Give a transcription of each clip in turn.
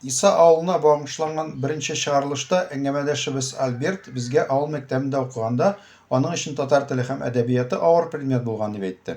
Иса авылына багышланган беренче чыгарылышта әңгәмәдәшебез Альберт безгә авыл мәктәбендә укыганда аның өчен татар теле һәм әдәбияты авыр предмет булган дип әйтте.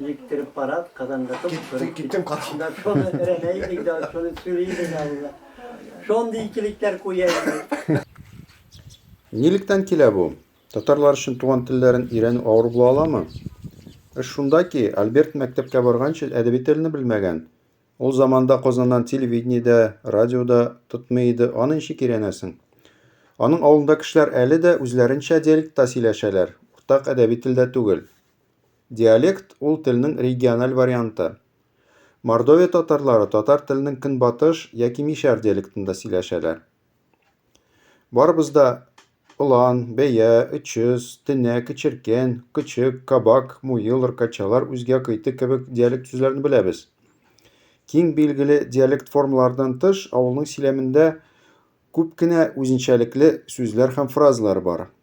Җиктереп карап, казанга тып Киттем, киттем карап. Да шуны рәнә идек, да шуны сөри идек алла. Шундый икелектәр куя идек. Нилектән килә бу? Татарлар өчен туган телләрен өйрәнү авыр була аламы? Эш шунда ки, Альберт мәктәпкә барганчы әдәби телне белмәгән. Ул заманда Казаннан телевидение дә, радио да тотмый иде, аны ничек өйрәнәсең? Аның авылында кешеләр әле дә үзләренчә диалектта сөйләшәләр, уртак әдәби телдә түгел. Диалект, ул телнең региональ варианты. Мордовия татарлары татар теленең көнбатыш яки мишәр диалектында сөйләшәләр. Барыбыз да Ылан, бәя, өчөз, тенә, кечеркән, кычык, кабак, муел, ркачалар үзгә кыйты кебек диалект сүзләрен беләбез. Киң билгеле диалект формалардан тыш, авылның сөйләмендә күп кенә үзенчәлекле сүзләр һәм фразалар бар.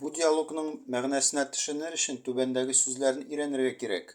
Бу диалогның мәгънәсенә төшенер өчен түбәндәге сүзләрне өйрәнергә кирәк.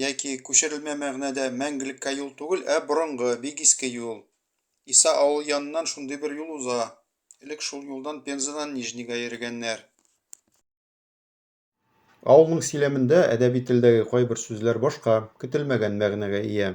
Яки, күчерелмә мәгънәдә, мәңгелеккә юл түгел, ә борынгы, бик иске юл. Иса авылы яныннан шундый бер юл уза. Элек шул юлдан Пензадан Нижнийга йөргәннәр. Авылның сөйләмендә әдәби телдәге кайбер сүзләр башка, көтелмәгән мәгънәгә ия.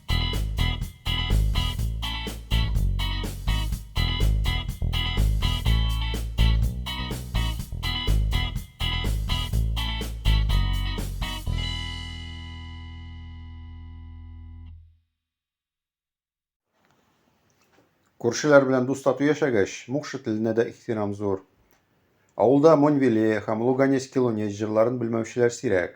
Күршеләр белән дус тату яшәгәч, мукшы теленә дә ихтирам зур. Авылда Монвеле һәм Луганец Килонец җырларын белмәүчеләр сирәк.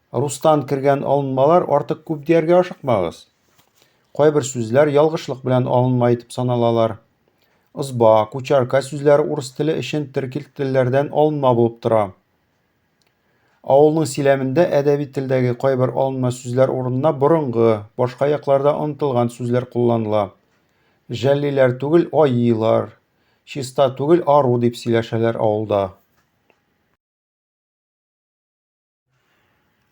Рустан кергән алынмалар артык күп дияргә ашыкмагыз. Кайбер сүзләр ялгышлык белән алынма итеп саналалар. Ызба, кучарка сүзләре урыс теле өчен теркил телләрдән алынма булып тора. Авылның силәмендә әдәби телдәге кайбер алынма сүзләр урынына борынгы, башка якларда онытылган сүзләр кулланыла. Жәллиләр түгел, аиилар, чиста түгел, ару дип сөйләшәләр авылда.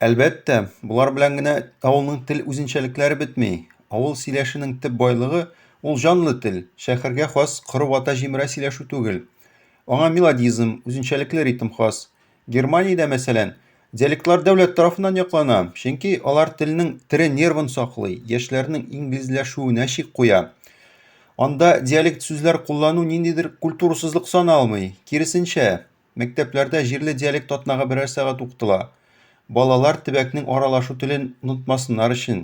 Әлбәттә, болар белән генә авылның тел үзенчәлекләре бетми. Авыл сөйләшенең төп байлыгы ул җанлы тел, шәһәргә хас коры вата җимерә сөйләшү түгел. Аңа мелодизм, үзенчәлекле ритм хас. Германиядә, мәсәлән, диалектлар дәүләт тарафыннан яклана, чөнки алар телнең тере нервын саклый, яшьләрнең инглизләшүенә чик куя. Анда диалект сүзләр куллану ниндидер культурасызлык саналмый, киресенчә, Мәктәпләрдә җирле диалект атнага берәр сәгать укытыла. Балалар төбәкнең аралашу телен онытмасыннар өчен.